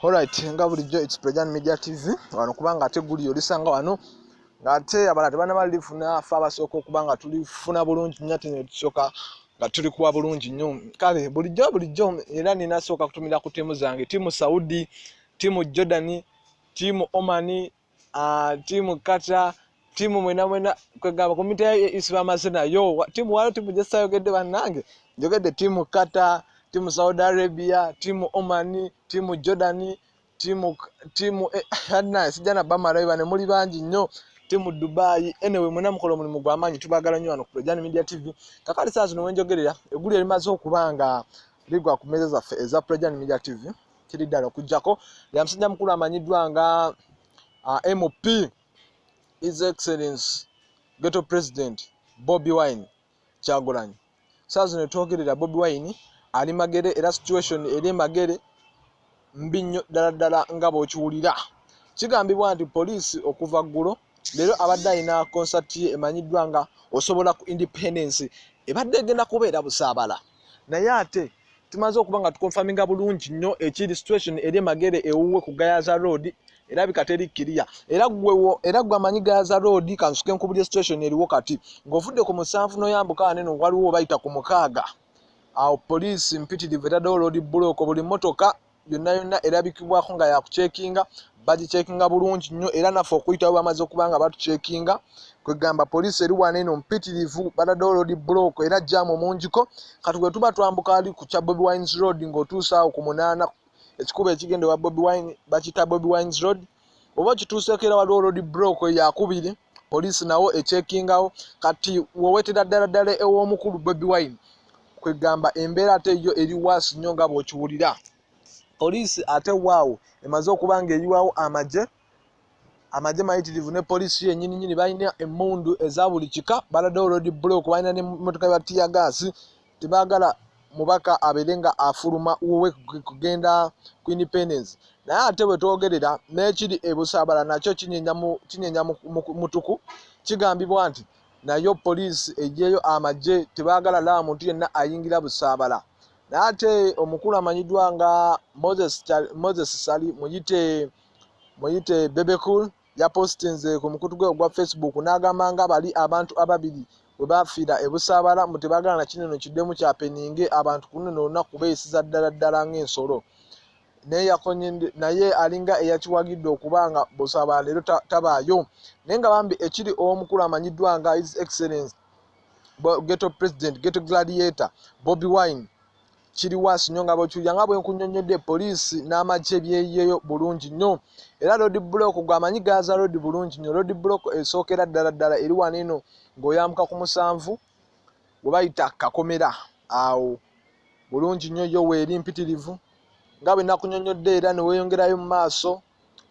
Alright, nga bulijjo it's Prejan Media TV wano kubanga ate guli olisanga wano ngate abala tebana bali funa fa basoko kubanga tuli funa bulungi nyati ne tusoka nga tuli kuwa bulungi nyo kale bulijjo bulijjo era nina soka kutumira ku timu zange timu Saudi timu Jordan timu Oman Ah, timu kata timu mwena mwena kwegamba komite ya isi bamaze nayo Wa- timu wano timu gyesayogedde bannange njogedde timu kata timu saudi arabia timu oman timu jordan timu timu eh, adna sijana bamalayo bane muli bangi nnyo timu dubai anyway mwena mukola omulimu gwamaanyi tubagala nnyo wano ku Lojani media tv kakati saa zino wenjogerera eggulu erimaze okuba nga ligwa ku meeza zaffe eza Lojani media tv kiri ddala okujjako ya musajja mukulu amanyiddwa nga uh, mp his excellence ghetto president bobi wine kyagulanyi saa zino twogerera bobi wine ali magere era situation eri emagere mbi nnyo ddala ddala nga bw'okiwulira kigambibwa nti poliisi okuva ggulo leero abadde alina konsati ye emanyiddwa nga osobola ku independence ebadde egenda kubeera busaabala naye ate tumaze okuba nga tukonfaminga bulungi nnyo ekiri situation eri emagere ewuwe ku gayaza road erabika teri kiriya era gwewo era gwe amanyi gayaza road kansuke nkubuli situation eriwo kati ng'ovudde ku musanvu noyambuka neno waliwo bayita ku mukaaga awo poliisi mpitirivu etaddewo loodi bulooko buli mmotoka yonna yonna erabikibwako nga yakucekinga bagicekinga bulungi nnyo era naffe okuyitawo bamaze okuba nga batucekinga kwegamba poliisi eri wana eno mpitirivu batadde olodi bulooko era jaamu mungiko kati bwe tuba twambuka ali ku kya bobi wines road ng'otuusaawo ku munaana ekikuba ekigende wa bobi wine bakiyita bobi wines road oba okituuseeko era waliwo olodi bulooko yakubiri poliisi nawo ekyekingawo kati wowetera ddala ddala ew'omukulu bobi wine kwegamba embeera ate yo eri waasi nnyo nga bw'okiwulira poliisi ate waawo emaze okuba ng'eyiwawo amagye amagye mayitirivu ne poliisi yenyini nyini balina emmundu eza buli kika baladewo lodi block balina nemotoka ya tiya gaasi tebagala mubaka abeere nga afuluma wuwe kugenda ku independence naye ate wetwogerera nekiri ebusabala nakyo kinyenya mutuku kigambibwa nti nayo poliisi ejeyo amagye tebagala laba muntu yenna ayingira busabala naye ate omukulu amanyiddwa nga moses sali muyite muyite bebecool yapositinze ku mukutu gwe ogwa facebook n'agamba nga bali abantu ababiri we baafiira e busaabala mu tebagala na kineno kiddemu kya peninge abantu ku luno olunaku beeyisiza ddala ddala ng'ensolo naye yakonye naye alinga eyakiwagidde okuba nga busaabala leero tabaayo naye nga bambi ekiri ow'omukulu amanyiddwa nga his excellence ghetto president ghetto gladiator bobi wine kiri wansi nnyo nga bwekiwulira nga bwe nkunyonnyodde poliisi n'amagye byeyeyo bulungi nnyo era lodi bulooko gwe amanyi gaaza lodi bulungi nnyo lodi bulooko esookera ddala ddala eri wano eno ng'oyambuka ku musanvu we bayita kakomera awo bulungi nnyo yo weeri mpitirivu nga bwe nakunyonnyodde era ne weeyongerayo mu maaso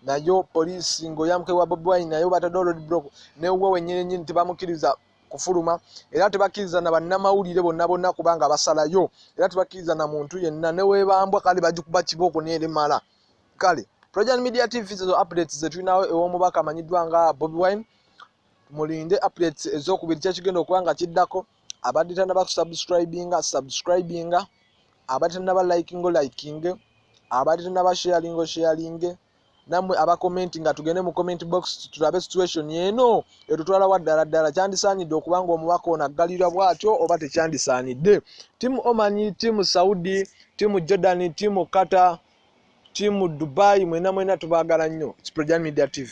nayo poliisi ng'oyambuka ewa bobi wine nayo bataddewo lodi bulooko newuwo wennyini nnyini tebamukkiriza kufuluma era tebakkiriza na bannamawulire bonna bonna kubanga basalayo era tebakkiriza na muntu yenna newebambwa kale bagikuba kibooko neremala kale projan media tv ezo updates zetulinawo ew'omubaka amanyiddwa nga bobi wine mulinde updates ezokubiri kyekigenda okuba nga kiddako abadde tanaba kusubscribinga subscribinga abadde tanaba likingo likinge abadde tanaba sharingo sharinge namwe abakomenti nga tugende mu comment box tulabe situation eno etutwala wa ddala ddala kyandisaanidde okuba nga omubaka ono aggalirwa bwatyo oba tekyandisaanidde timu omani timu saudi timu jordan timu kata timu dubai mwena mwena tubaagala nnyo kiprojan media tv